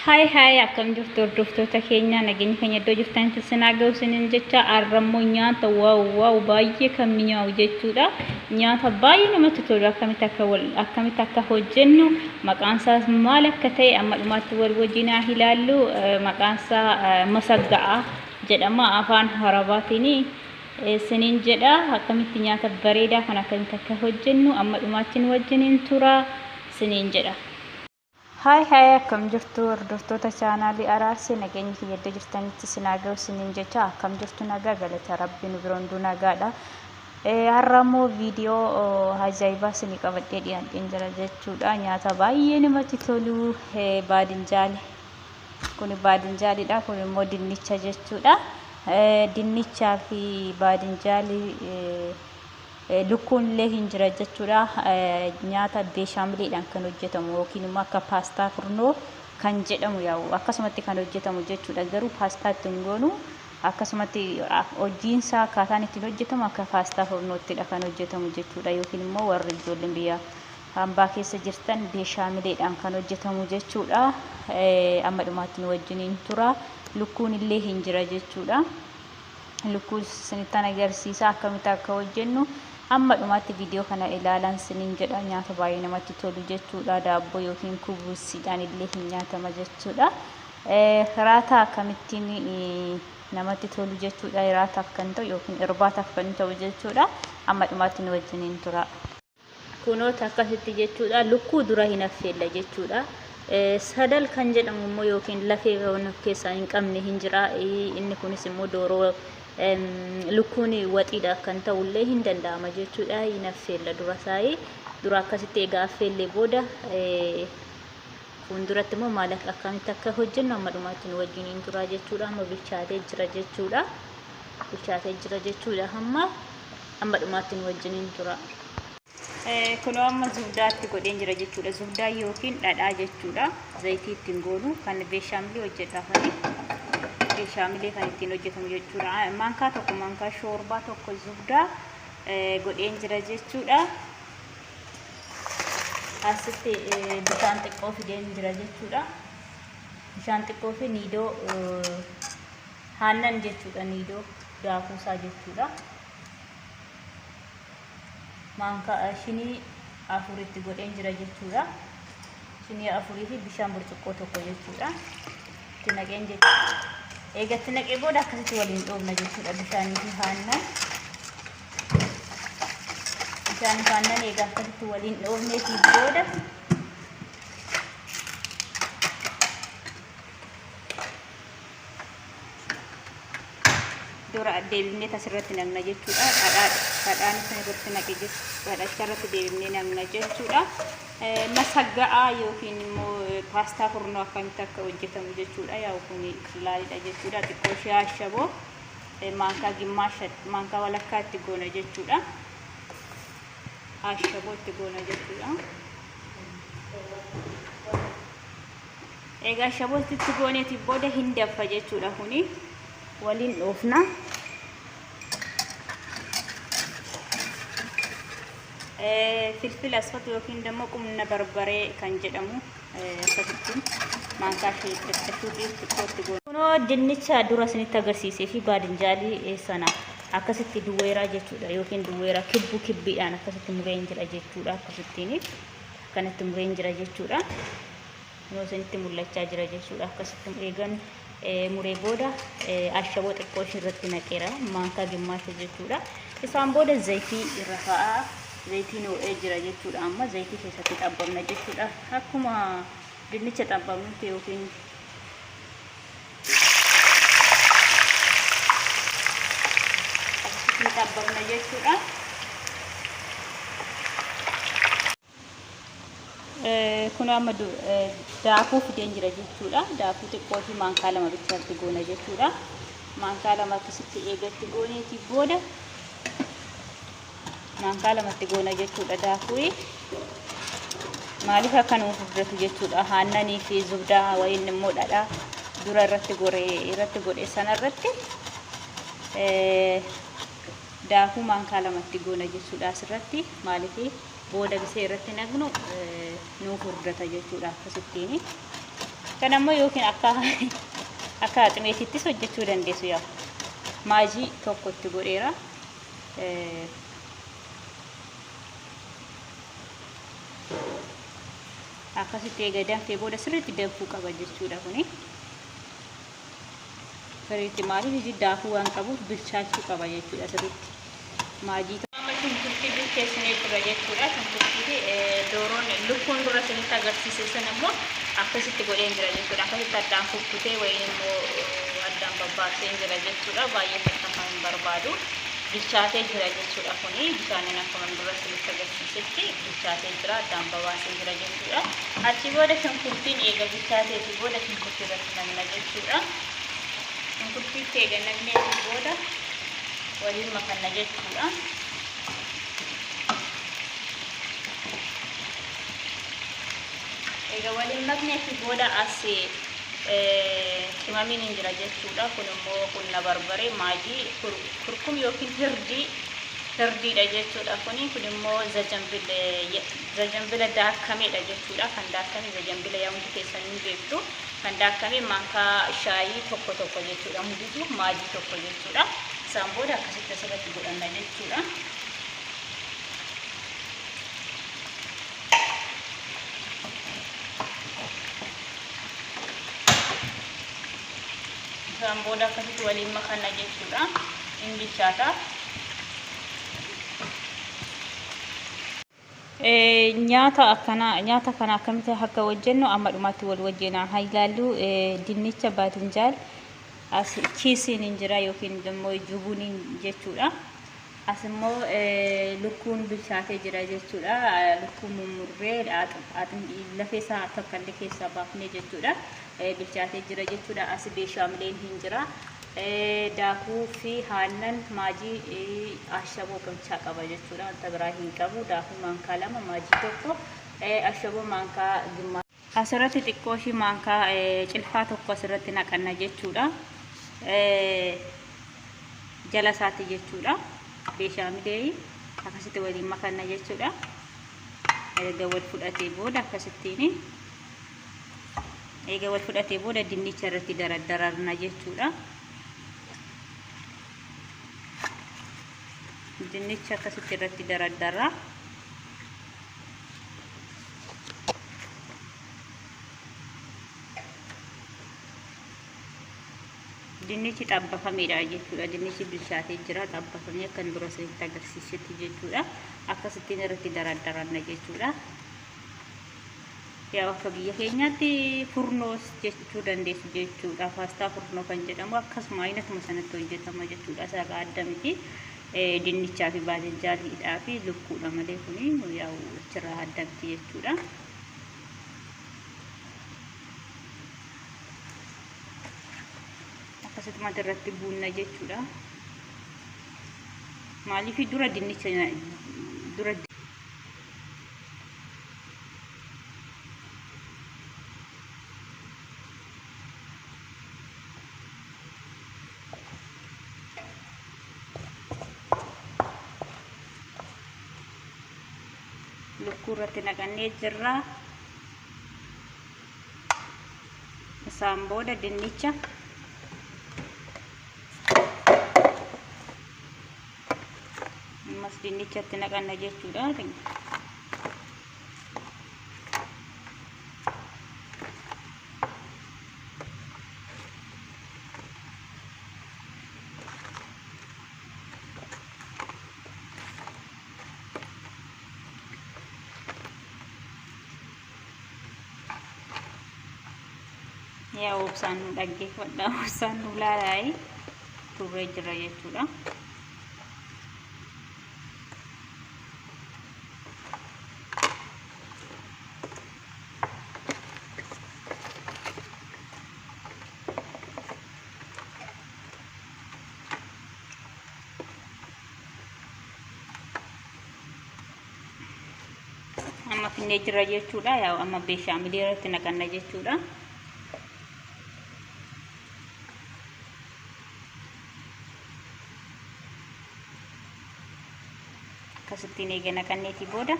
Haay haay akkam jirtu hordoftoota keenya nageenya keenya iddoo jirtanitti sinaa ga'u sinin jecha arrammoo nyaata waaw waaw baay'ee kan mi'aawu jechuudha nyaata baay'ee namatti tolu akkamitti akka wal akkamitti akka hojjennu maqaan isaas maal akka ta'e amma dhumaatti wal wajjin haa ilaallu maqaan isaa masagga'a jedhama afaan harabaatiin sinin jedha akkamitti nyaata bareedaa kan akkamitti akka hojjennu amma dhumaatti wajjin hin tura sinin jedha. Haay haay akkam jirtu hordoftoota chaanaalii Araarse nageenyi kiyya iddoo jirtanitti isin haa ga'u isiniin jecha akkam jirtu nagaa galata rabbi nu bira hunduu nagaadha. Har'a immoo viidiyoo ajaa'ibaa isinii qabadhee dhiyaadheen jira jechuudha nyaata baay'ee namatti tolu baadinjaali. Kun baadinjaalidha kun immoo dinnicha jechuudha. Dinnichaa fi baadinjaalii Lukkuun illee hin jira jechuudha. Nyaata beeshaamiliidhaan kan hojjetamu yookiin immoo akka paastaa furnoo kan jedhamu yaa'u akkasumatti kan hojjetamu jechuudha. Garuu paastaa ittiin goonu akkasumatti hojiinsaa akkaataan ittiin hojjetamu akka paastaa furnoottidha kan hojjetamu jechuudha. Yookiin immoo warri ijoolleen biyya hambaa keessa jirtan beeshaamileedhaan kan hojjetamu jechuudha. Amma dhumaatti nu wajjiniin tura. Lukkuun illee hin jira jechuudha. lukkuu sinittan agarsiisa akkamitti akka hojjennu amma dhumaatti viidiyoo kana ilaalan sinin jedha nyaata baay'ee namatti tolu jechuudha daabboo yookiin kubuusiidhaan illee hin nyaatama jechuudha hiraataa akkamittiin namatti tolu jechuudha hiraataaf kan ta'u yookiin irbaataaf kan ta'u jechuudha amma dhumaatti nu wajjiniin tura. Kunoo takka sitti jechuudha. Lukkuu dura hin affeella jechuudha. Sadal kan jedhamu immoo yookiin lafee waan of keessaa hin qabne hin jira. Inni kunis immoo dooroo lukkuun waxiidha kan ta'u illee hin danda'ama jechuudha. Hin affeella dura saayii. Dura akkasitti egaa affeellee booda fuulduratti immoo maal akkamitti akka hojjennu amma dhumaatti nu wajjin hin tura jechuudha. Amma bilchaatee jira jechuudha. Bilchaatee jira jechuudha amma. Amma dhumaatti nu wajjiniin turaa. Kunoo amma zubdaa itti godheen jira jechuudha. Zubdaa yookiin dhadhaa jechuudha. Zayitii ittiin goonu kan beeshaamilii hojjedha kuni. Beeshaamilee kan ittiin hojjetamu jechuudha. Maankaa tokko maankaa shoorbaa tokko zubdaa godheen jira jechuudha. Asitti bishaan xiqqoo fideen jira jechuudha. Bishaan xiqqoo fi niidoo haannan jechuudha. Niidoo daakuusaa jechuudha. maankaa shinii afur itti godheen jira jechuudha. Shinii afurii fi bishaan burcuqqoo tokko jechuudha. Itti naqeen jechuudha. Eega itti naqee booda akkasitti waliin dhoobna jechuudha bishaanii fi haannan. Bishaan fi haannan eega akkasitti waliin dhoobnee fi booda dura deebifnee asirratti namna jechuudha. Dhadhaan isin irratti naqe dhadhacha irratti deebifnee namna jechuudha. Masagga'aa yookiin immoo paastaa furnoo akkamitti akka hojjetamu jechuudha. Yaa'u kun qallaalidha jechuudha. Xiqqoo ishee ashaboo maankaa gimmaasha maankaa walakkaa itti goona jechuudha. Ashaboo itti goona jechuudha. Egaa shaboolti itti gooneetiin booda hin danfa jechuudha kuni waliin dhoofna. Filfila asfatu yookiin dammoo qumna barbaree kan jedhamu asfatittiin maankaa ishee xixiqqashuutiin xiqqootti goona. Kunoo dinnicha dura isinitti agarsiisee fi baadinjaalii sana akkasitti duwweeraa jechuudha yookiin duwweeraa kibbu kibbiidhaan akkasitti mureen jira jechuudha akkasittiin kanatti mureen jira jechuudha. Kunoo isinitti mul'achaa jira jechuudha. Akkasitti eegan muree booda ashaboo xiqqoo ishii irratti naqeera. Maankaa gimmaasha jechuudha. Isaan booda zayitii irra kaa'aa. Zayitiin ho'ee jira jechuudha. Amma zayitii keessatti xabbamna jechuudha. Akkuma dinnicha xabbamnutti yookiin akkasitti xabbamna jechuudha. Kun amma daakuu fideen jira jechuudha. Daakuu xiqqoo fi maankaa lama bichaatti goona jechuudha. Maankaa lama akkasitti eegatti gooneeti booda maankaa lamatti goona jechuudha daakuu. Maaliif akka nuuf furdatu jechuudha. Haannanii fi zubdaa wayiin immoo dhadhaa dura irratti goree irratti godhe sana irratti daakuu maankaa lamatti goona jechuudha asirratti maaliif booda bisee irratti naqnu nuu furdata jechuudha akkasittiin kan ammoo yookiin akka akka aximeetittis hojjechuu dandeessu yaa maajii tokko itti godheera akkasitti eega danfee booda sirriitti danfuu qaba jechuudha kuni. Sirriitti maaliif iji daakuu waan qabuuf bilchaachuu qaba jechuudha sirriitti. Maajii amma shunkurtii bilcheessinee jirra jechuudha. Shunkurtii fi dooroon lukkuun dura isinitti agarsiise sun immoo akkasitti godheen jira jechuudha. Akkasitti addaan kukkutee wayii immoo addaan babbaaseen jira jechuudha. Baay'ee takkafa hin barbaadu. Bilchaatee jira jechuudha kuni bishaaniin akkuma dura isinitti agarsiisetti bilchaatee jira addaan babaaseen jira jechuudha. Achi booda shunkurtiin eega bilchaateeti booda shunkurtii irratti qabna jechuudha. Shunkurtii itti eega naqnee fi booda waliin makanna jechuudha. Eega waliin maknee fi booda as qimamiin hin jira jechuudha. Kun immoo qunna barbaree maajii kurkum yookiin hirdii hirdiidha jechuudha. Kuni kun immoo zajanbila daakameedha jechuudha. Kan daakame zajanbila yaa hundi keessan ni beektu. Kan daakkame maankaa shaayii tokko tokko jechuudha. Mudutu maajii tokko jechuudha. Isaan booda akkasitti asirratti godhanna jechuudha. Isaan booda akkasitti waliin makanna jechuudha. Hin bilchaata. Nyaata akkanaa nyaata kana akkamitti akka hojjennu amma dhumaatti wal wajjin haa ilaallu. Dinnicha baatinjaal as kiisiin hin jira yookiin immoo jubuuniin jechuudha. As immoo lukkuun bilchaatee jira jechuudha. Lukkuun mummurree lafee isaa tokkollee keessaa baafnee jechuudha. bilchaatee jira jechuudha. Asi beeshaamileen hin jira. Daakuu fi haannan maajii ashaboo qochaa qaba jechuudha. Wanta biraa hin qabu. Daakuu maankaa lama maajii tokko ashaboo maankaa gimmaa. Asirratti xiqqoo ishii maankaa cilfaa tokko asirratti naqanna jechuudha. Jala isaatti jechuudha. Beeshaamilee akkasitti waliin makanna jechuudha. Erga wal fudhatee booda akkasittiin eega wal fudhatee booda dinnicha irratti daraddararna jechuudha. Dinnicha akkasitti irratti daraddarra. Dinnichi xabbafameedha jechuudha. Dinnichi bilchaatee jira xabbafamee akkan dura isinitti agarsiisetti jechuudha. Akkasittiin irratti daraddaranna jechuudha. Yaa akka biyya keenyaatti furnoos jechuu dandeessu jechuudha. Paastaa furnoo kan jedhamu akkasuma aynatuma sanatti hojjetama jechuudha. Isaarraa adda miti. Dinnichaa fi baajajjaaliidhaa fi lukkuudha malee kuni yaa'u achirraa adda miti jechuudha. Akkasumatti irratti buunna jechuudha. Maaliif dura dinnicha dura lukkuu irratti naqannee jirra isaan booda dinnicha ammas dinnichatti naqanna jechuudha yaa obsaan nu dhaggeeffadha obsaan nu laalaayi turree jirra jechuudha. amma finnee jirra jechuudha yaa amma beeshaamilii irratti naqanna jechuudha akkasittiin eega naqanneetii booda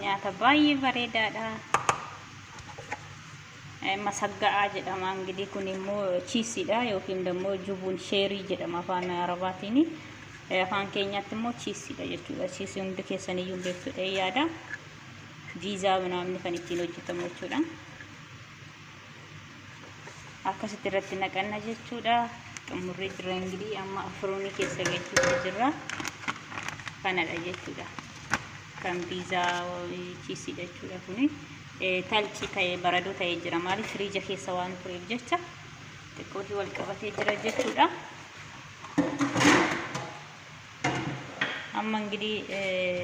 nyaata baay'ee bareedaadha. Masagga'aa jedhama ingidiin kun immoo chiisiidha yookiin immoo jubuun sheerii jedhama afaan arabaatiin. Afaan keenyaatti immoo chiisiidha jechuudha. Chiisii hundi keessaniyyuu hin beektudha yaada. Viizaa namni kan ittiin hojjetamu jechuudha. akkasitti irratti naqanna jechuudha xumurri jira ingirii amma afuroonii keessa galchuutu jira kanadha jechuudha kan biizaa chiisii jechuudha kuni talci ta'e baradoo ta'e jira maaliif firiija keessa waan tureef jecha xiqqootii wal qabatee jira jechuudha amma ingirii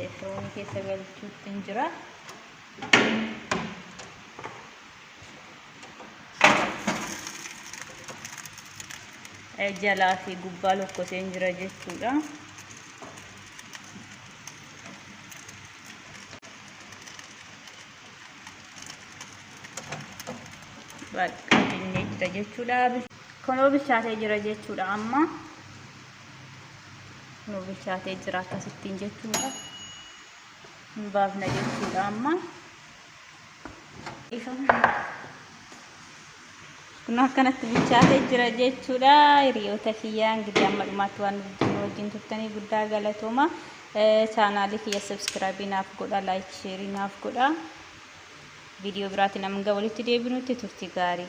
afuroonii keessa galchuutti jira jalaa fi gubbaa lokkoseen jira jechuudha. Bakka finnee jira jechuudha. Kunoo bilchaatee jira jechuudha amma. Kunoo bilchaatee jira akkasittiin jechuudha. Hin baafna jechuudha amma. kun akkanatti bilchaatee jira jechuudha hiriyoota kiyyaa ingidihi amma dhumaatti waan wajjin turtanii guddaa galatooma chaanaalii kiyya sabskiraabii naaf godha laayik sheerii naaf godha viidiyoo biraatiin amma walitti deebinutti turtii gaarii